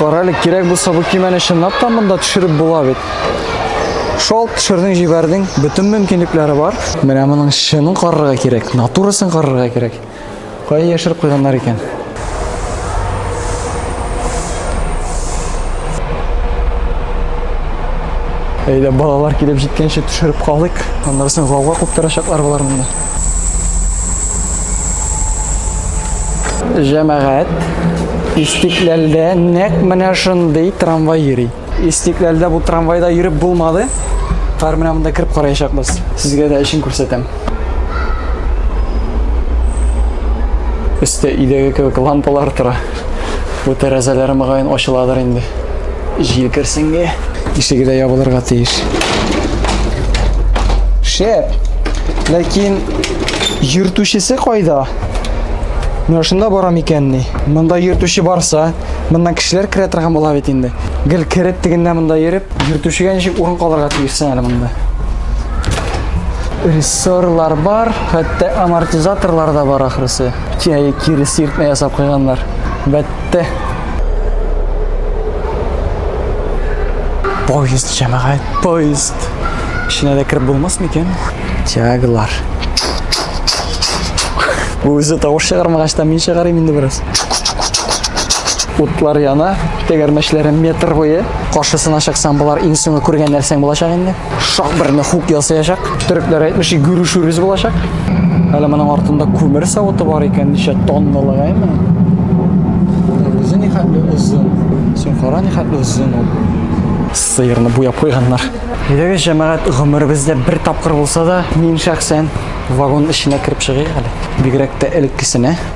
Карале, кирәк булса бу кимәне чынлап та монда төшереп була бит. Шул төшердең, җибәрдең, бөтен мөмкинлекләре бар. Менә моның чынын карарга кирәк, натурасын карарга кирәк. Кая яшереп куйганнар икән? Әйдә балалар килеп җиткәнче төшереп калыйк. Аннарсын гауга куптарачаклар болар монда. Җәмәгать, Истикләлдә нәк менә шундый трамвай йөри. Истикләлдә бу трамвайда йөреп булмады. Хәзер менә монда кереп караячакбыз. Сезгә дә эшен күрсәтәм. Өстә идеге кебек лампалар тора. Бу тәрәзәләр мөгаен ачыладыр инде. Җил керсенге. Ишеге дә ябылырга тиеш. Шәп. Ләкин йөртүчесе кайда? Менә шунда бара микәнни? Монда йөртүче барса, Моннан кешеләр керә торган була бит инде. Гел кереп тегендә монда йөреп, йөртүчегә ничек урын калырга тиешсең әле монда. Рессорлар бар, хәтта амортизаторлар да бар ахрысы. Кияе кире сиртмә ясап куйганнар. Бәтте. Поезд җәмәгать, поезд. Эченә дә кереп булмас микән? Тягалар. Үзе тавыш чыгармагач та мин чыгарым инде бераз. Утлар яна, тәгәрмәчләре метр буе. Каршысына чыксаң, болар иң соңгы күргән нәрсәң булачак инде. Шак берне хук ясаячак. Төрекләр әйтмеши, гүрүшүрез булачак. Әле моның артында күмер савыты бар икән, ничә тонналык әйме? Үзе ни хәтле озын. Син кара ни хәтле озын ул. Сыерны буяп куйганнар. Әйдәгез, җәмәгать, гомеребездә бер тапкыр булса да, мин шәхсән вагон эченә кереп чыгыйк әле. Бигрәк тә элеккесенә.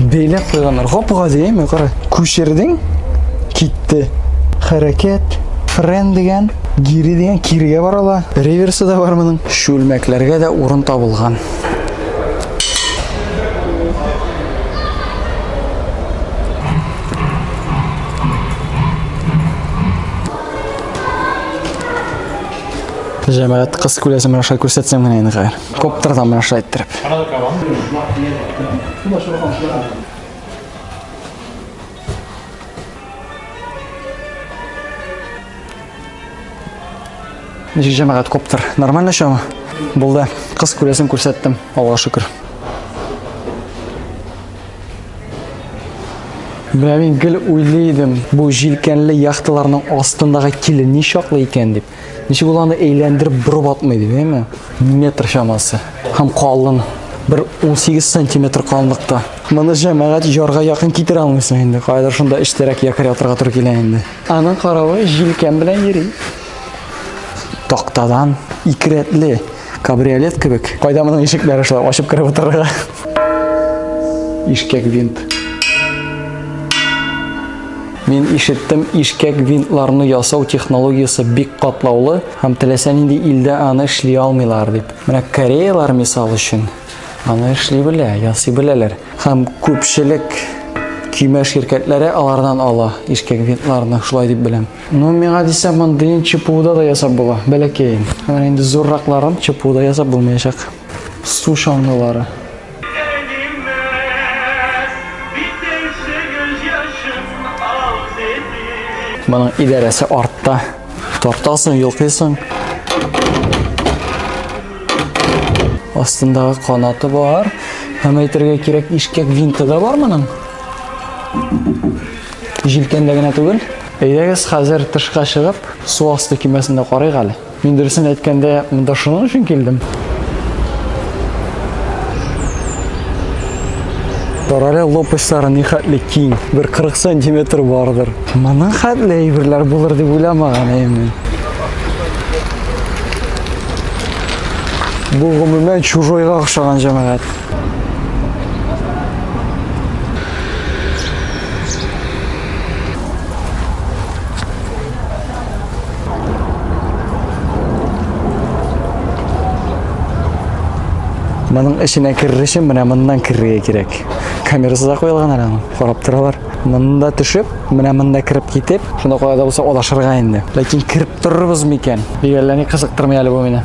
Бәйләп куйганнар. Гапыга дияме, кара. Күчердең, китте. Хәрәкәт, френ дигән, гири дигән, кирегә бара ала. Реверсы да бар моның. Чүлмәкләргә дә урын табылган. Җәмәгать кыз күләсен аша күрсәтсәм генә инде хәер. Коптыр там менә шулай иттереп. Ничек җәмәгать коптыр? Нормально шоу? Булды. Кыз күрәсен күрсәттем. Аллаһу шөкер. Менә мин гел уйлый идем, бу җилкәнле яхталарның астындагы киле ни чаклы икән дип. Ничек ул аны әйләндереп борып атмый дип, әйме? Метр чамасы. Һәм калын. Бер 18 сантиметр калынлыкта. Моны җәмәгать ярга якын китерә алмыйсың инде. Кайдыр шунда эчтәрәк якыр ятырга туры килә инде. Аның каравы җилкән белән йөри. Тактадан икерәтле. Кабриолет кебек. Кайда моның ишекләре шулай ачып кереп утырырга? Ишкәк винт. Мин ишеттем, ишкәк винтларны ясау технологиясе бик катлаулы һәм теләсә нинди илдә аны эшли алмыйлар дип. Менә кореялар мисал өчен аны эшли белә, ясый беләләр. Һәм күпчелек көймә ширкәтләре алардан ала ишкәк винтларны, шулай дип беләм. Ну, миңа дисә, мондыйын чпуда да ясап була, бәләкәен. Менә инде зурракларын чпуда ясап булмаячак. Су чаңгылары. Моның идарәсе артта. Тартасың, йолкыйсың. Астындагы канаты бар. Һәм әйтергә кирәк, ишкәк винты да бар моның. Җилкәндә генә түгел. Әйдәгез хәзер тышка чыгып, су асты кимәсендә карыйк әле. Мин дөресен әйткәндә, монда шуның өчен килдем. Карале лопастьлары ни хәтле киң, бер 40 сантиметр бардыр. Моның хәтле әйберләр булыр дип уйламаган әймен. Бу гомумән чужойга охшаган җәмәгать. Моның эченә керер өчен менә моннан керергә кирәк. Камерасы да куелган әле аның. Карап торалар. Монда төшеп, менә монда кереп китеп, шунда кая да булса алашырга инде. Ләкин кереп торырбыз микән? Бигәлләни кызыктырмый әле бу мине.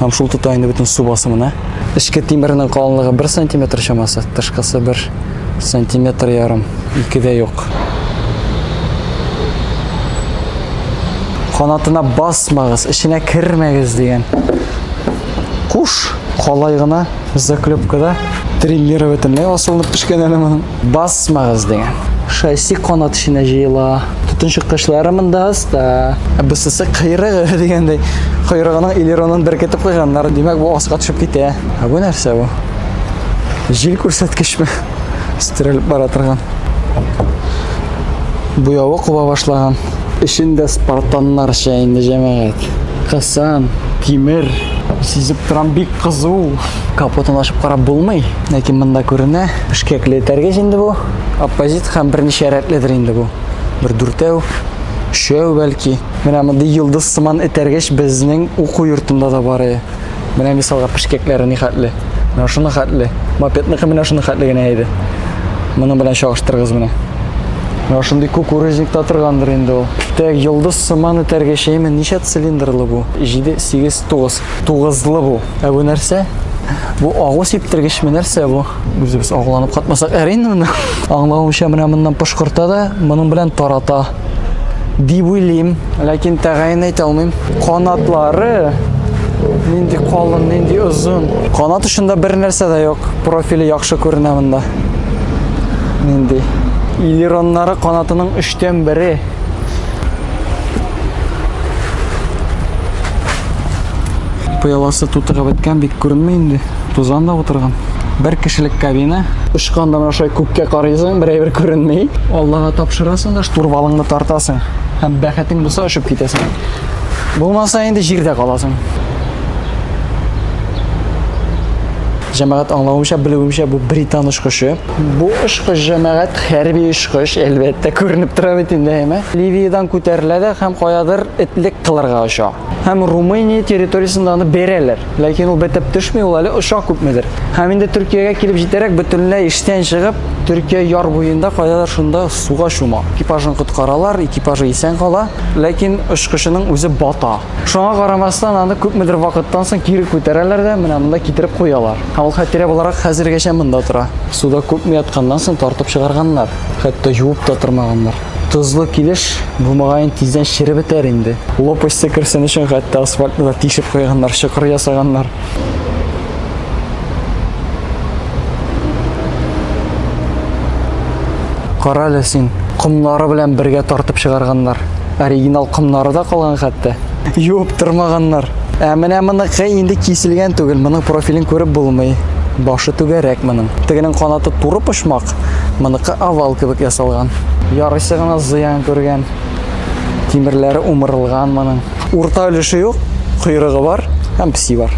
Һәм шул тота инде бөтен су басымына. Эчке тимернең калынлыгы 1 сантиметр чамасы, тышкысы 1 сантиметр ярым, ике дә юк. Канатына басмагыз, эченә кермәгез дигән. Куш калай гына заклепкада тренировательный асылынып пешкән әле моның. Басмагыз дигән. Шасси канат эченә җыела. Төтен чыккычлары монда аста. Ә бусысы кыйрыгы дигәндәй. Кыйрыгының элеронын беркетеп куйганнар. Димәк, бу аска төшеп китә. Ә бу нәрсә бу? Җил күрсәткечме? Стерелеп бара торган. Буявы куба башлаган. Эчендә спартаннарча инде җәмәгать. Касан, тимер, сизеп торам бик кызу. Капотын ачып карап булмый, ләкин монда күренә. Бишкәкле этәргеч инде бу. Оппозит һәм берничә рәтледер инде бу. Бер дүртәү, өчәү бәлки. Менә мондый йолдыз сыман этәргеч безнең уку йортында да бар иде. Менә мисалга пешкәкләре ни хәтле. Менә шуны хәтле. Мопедныкы менә шуны хәтле генә иде. Моның белән чагыштырыгыз менә. Менә шундый кукурузникта торгандыр инде ул. Тәк йолдыз сыман этәргечеме, ничә цилиндрлы бу? 7, 8, 9. Тугызлы бу. Ә бу нәрсә? Бу агу сиптергечме нәрсә бу? Үзебез агуланып катмасак әр инде моны. Аңлавымча менә моннан пошкырта да, моның белән тарата. Дип уйлыйм, ләкин тәгаен әйтә алмыйм. Канатлары нинди калын, нинди озын. Канат очында бер нәрсә дә юк. Профиле яхшы күренә монда. Нинди? Илероннары канатының 3 бере. пыяласы тутырып беткән бик күренми инде тузан да утырган бер кешелек кабина очкандан аша күккә карыйсың берәйбер күренми аллага тапшырасың да штурвалыңны тартасың һәм бәхетең булса очып китәсең булмаса инде җирдә каласың җәмәгать аңлавымча белүемчә бу британ очкычы Бу очкыч җәмәгать хәрби очкыч, әлбәттә, күренеп тора бит инде, әйме? Ливиядән күтәрелә дә һәм каядыр этлек кылырга оча. Һәм Румыния территориясендә аны бәрәләр. Ләкин ул бетеп төшми, ул әле оча күпмедер. Һәм инде Төркиягә килеп җитәрәк бөтенләй эштән чыгып, Төркия яр буенда каядыр шунда суга чума. Экипажын коткаралар, экипажы исән кала, ләкин очкычының үзе бата. Шуңа карамастан аны күпмедер вакыттан соң кире күтәрәләр дә менә монда китереп куялар. Ә ул хәтирә буларак хәзергәчә монда тора. Суда күпме ятканнан соң тартып чыгарганнар, хәтта юып та тормаганнар. Тозлы килеш бу мөгаен тиздән череп бетәр инде. Лопасти керсен өчен хәтта асфальтны да тишеп куйганнар, чокыр ясаганнар. Кара әле син, комнары белән бергә тартып чыгарганнар. Оригинал комнары да калган хәтта. Юып тормаганнар. Ә менә моныкы инде киселгән түгел, моның профилен күреп булмый. Башы түгәрәк моның. Тегенең канаты туры почмак, моныкы овал кебек ясалган. Ярыйсы гына зыян күргән. Тимерләре умырылган моның. Урта өлеше юк, койрыгы бар һәм песи бар.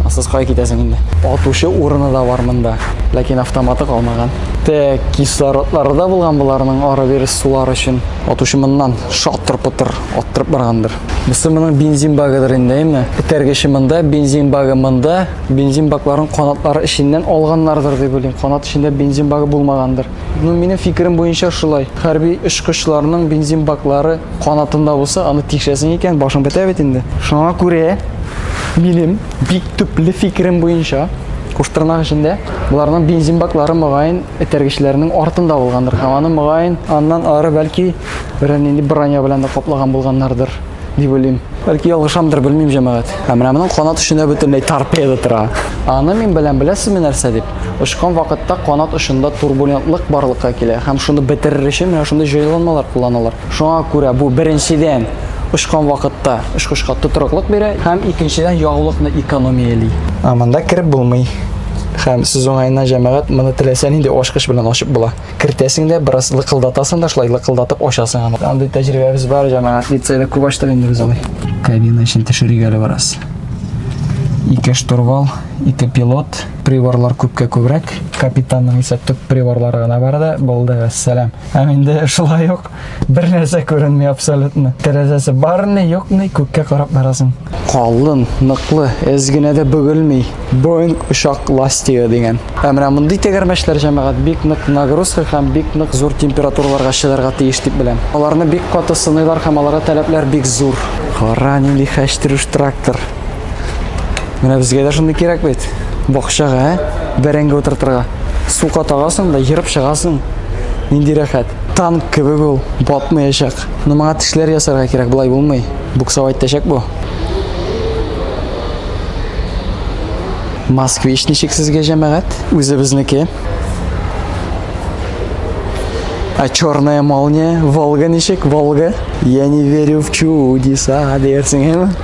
Асыз кая китәсең инде? Атучы урыны да бар монда, ләкин автоматы калмаган. Тә кислородлары да булган боларның ары бирис сулар өчен. Атучы моннан шатыр-пытыр аттырып баргандыр. Бусы моның бензин багыдыр инде, әйме? Этәргече монда, бензин багы монда. Бензин бакларын канатлары эченнән алганнардыр дип уйлыйм. Канат эчендә бензин багы булмагандыр. Ну, минем фикерем буенча шулай. Хәрби очкычларның бензин баклары канатында булса, аны тикшәсең икән, башың бетә бит инде. Шуңа күрә минем бик төпле фикерем буенча куштырнак эчендә боларның бензин баклары мөгаен этәргечләрнең артында булгандыр һәм аны мөгаен аннан ары бәлки берәр нинди броня белән дә каплаган булганнардыр дип уйлыйм бәлки ялгышамдыр белмим җәмәгать ә менә моның канат эчендә бөтенләй торпеда тора аны мин беләм беләсезме нәрсә дип Очкан вакытта канат очында турбулентлык барлыкка килә һәм шуны бетерер өчен менә шундый җайланмалар кулланалар. Шуңа күрә бу беренчедән очкан вакытта очкычка тотрыклык бирә һәм икенчедән ягулыкны экономияли. Ә монда кереп булмый. Һәм сүз уңаена җәмәгать, моны теләсә нинди ачкыч белән ачып була. Кертәсең дә, бераз лыкылдатасың да, шулай лыкылдатып ачасың аны. Андый тәҗрибәбез бар, җәмәгать, лицейда күп ачтык инде без аны. Кабина эчен төшерик әле бераз. Ике штурвал. ике пилот, приборлар күпкә күбрәк. Капитанның исә төп приборлары гына бар да, булды, вәссәлам. Һәм инде шулай ук бер нәрсә күренми абсолютно. Тәрәзәсе барны, юкны күккә карап барасың. Калын, ныклы, эз генә дә бөгелми. Боинг очак ластигы дигән. Ә менә мондый тәгәрмәчләр җәмәгать бик нык нагрузка һәм бик нык зур температураларга чыдарга тиеш дип беләм. Аларны бик каты сыныйлар һәм аларга таләпләр бик зур. Кара нинди хәчтерүш трактор. Менә безгә дә шундый кирәк бит. Бакчага, ә? Бәрәңге утыртырга. Сука тагасың да ерып чыгасың. Нинди рәхәт. Танк кебек ул, батмаячак. Но моңа тешләр ясарга кирәк, болай булмый. Буксовать итәчәк бу. Москвич ничек сезгә җәмәгать? Үзебезнеке. А черная молния, Волга ничек, Волга? Я не верю в чудеса, диярсең, әме?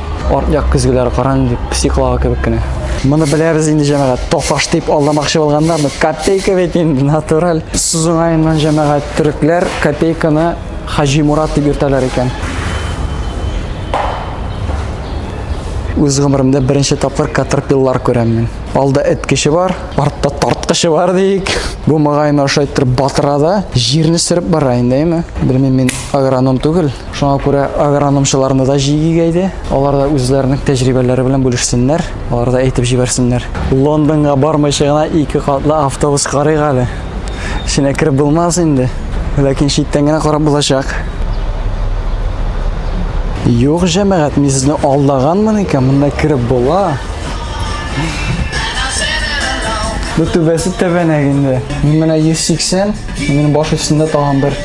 Арт-як көзгеләр каран дип психлава кебек кенә. Моны беләбез инде җәмәгать. Тофаш дип алдамакчы булганнарны копейка бит инде натураль. Сузунаеннан җәмәгать төрекләр копейканы Хаҗи Мурат дип йөртәләр икән. Үз гомеремдә беренче тапкыр катерпиллар күрәм мин. Алда эт кеше бар, артта тарткычы бар дик. Бу мөгаен ошайтыр батырада җирне сөреп бара инде, әйме? Белмим мин агроном түгел. Шуңа күрә агрономчыларны да җигиге иде. Алар да үзләренең тәҗрибәләре белән бүлешсеннәр, алар да әйтеп җибәрсеннәр. Лондонга бармыйча гына ике катлы автобус карыйк әле. Эченә кереп булмас инде, ләкин читтән генә карап булачак. Юк, җәмәгать, мин сезне алдаганмын икән, монда кереп була. Бу түбәсе тәбәнәк инде. Мин менә 180 Минем баш өстендә тагын бер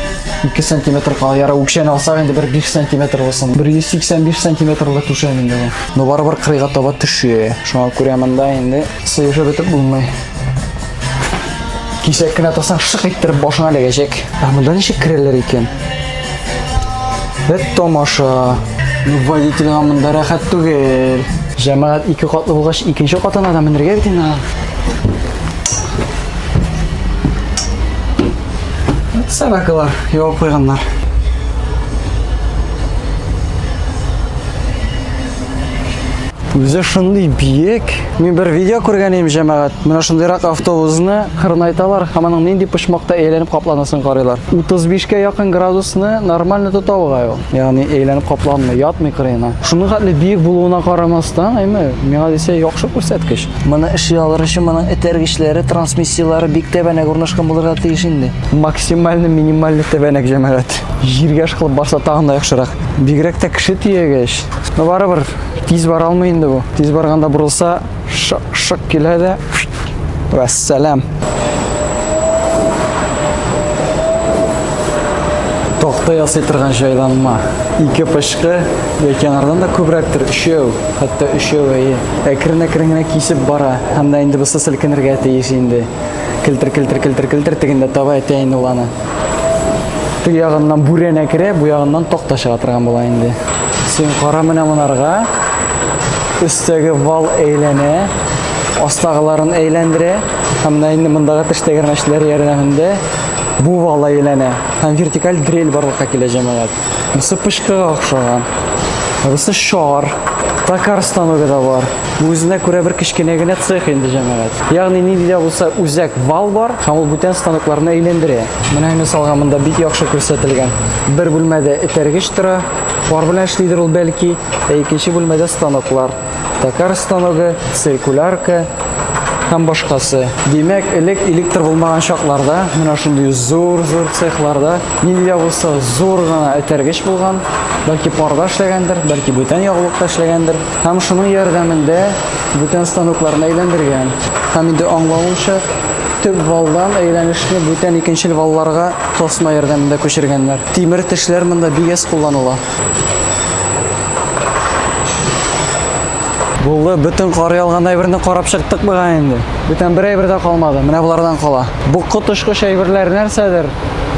2 сантиметр кала яра үкшәне алсак инде бер 5 сантиметр булсын 185 сантиметрлы түшәм инде бу но барыбер кырыйга таба төшә шуңа күрә монда инде сыешып бетеп булмый кисәк кенә тасаң шык иттереп башыңа эләгәчәк ә монда ничек керәләр икән бәт тамаша ну водительга монда рәхәт түгел җәмәгать ике катлы булгач икенче катына да менергә бит инде Саракалар явып куйганнар. Үзе шундый биек. Мин бер видео күргән идем, җәмәгать. Менә шундыйрак автобусны кырнайталар һәм аның нинди почмакта әйләнеп капланысын карыйлар. 35 кә якын градусны нормально тота бугай ул. Ягъни әйләнеп капланмый, ятмый кырыена. Шуның хәтле биек булуына карамастан, әйме, миңа дисә яхшы күрсәткеч. Моны эшли алыр өчен моның этәргечләре, трансмиссияләре бик тәбәнәк урнашкан булырга тиеш инде. Максимальный, минимальный тәбәнәк җәмәгать. Җиргә ышкылып барса тагын да яхшырак. Бигрәк тә кеше тиягәч. Но барыбер тиз бара алмый инде бу. Тиз барганда бурылса, Шык, шык килә дә. Вәссәлам. Токта ясый торган җайланма. Ике пычкы яки анардан да күбрәктер, өчәү, хәтта өчәү әйе. Әкрен-әкрен генә кисеп бара. Һәм дә инде бусы селкенергә тиеш инде. Келтер, келтер, келтер, келтер тегендә таба әтәен ул аны. Теге ягыннан бүрәнә керә, бу ягыннан такта чыга торган була инде. Син кара менә монарга. Өстәге вал әйләнә, астагыларын әйләндерә. Һәм менә инде мондагы теш тәгәрмәчләре ярдәмендә бу вал әйләнә. Һәм вертикаль дрель барлыкка килә җәмәгать. Монысы пычкыга охшаган. Монысы шар. Токар станогы да бар. Үзенә күрә бер кечкенә генә цех инде җәмәгать. Ягъни нинди дә булса үзәк вал бар һәм ул бүтән станокларны әйләндерә. Менә мисалга монда бик яхшы күрсәтелгән. Бер бүлмәдә этәргеч тора. Пар белән эшлидер ул бәлки. Ә икенче бүлмәдә станоклар. тәкәр станогы, циркулярка һәм башкасы. Димәк, элек электр булмаган чакларда менә шундый зур-зур цехларда нинди булса зур гына этәргеч булган, бәлки парда эшләгәндер, бәлки бүтән ягулыкта эшләгәндер. Һәм шуның ярдәмендә бүтән станокларны әйләндергән. Һәм инде аңлавымча, төп валдан әйләнешне бүтән икенчел валларга тасма ярдәмендә күчергәннәр. Тимер тешләр монда бигәс кулланыла. Булды, бөтен кар ялган әйберне карап чыктык буга инде. Бүтән бер әйбер дә калмады. Менә булардан кала. Бу котышкыч әйберләр нәрсәдер?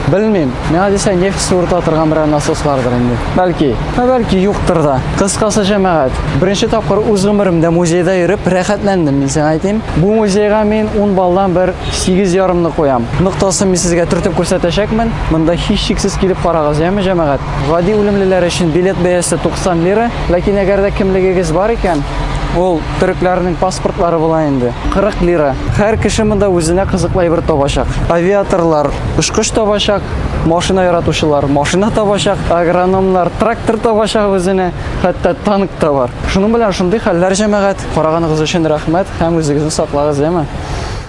Белмим. Миңа дисә нефть суырта торган берәр насослардыр инде. Бәлки. Ә бәлки юктыр да. Кыскасы җәмәгать. Беренче тапкыр үз гомеремдә музейда йөреп рәхәтләндем, мин сиңа әйтим. Бу музейга мин 10 баллдан бер 8 ярымны куям. Ноктасын мин сезгә төртеп күрсәтәчәкмен. Монда һичшиксез килеп карагыз, яме җәмәгать. Гади үлемлеләр өчен билет бәясе 90 лира, ләкин әгәр дә кемлегегез бар икән, ул төрекләрнең паспортлары була инде. 40 лира. Һәр кеше монда үзенә кызыклы әйбер табачак. Авиаторлар очкыч табачак, машина яратучылар машина табачак, агрономнар трактор табачак үзенә, хәтта танк та бар. Шуның белән шундый хәлләр, җәмәгать. Караганыгыз өчен рәхмәт һәм үзегезне саклагыз, яме.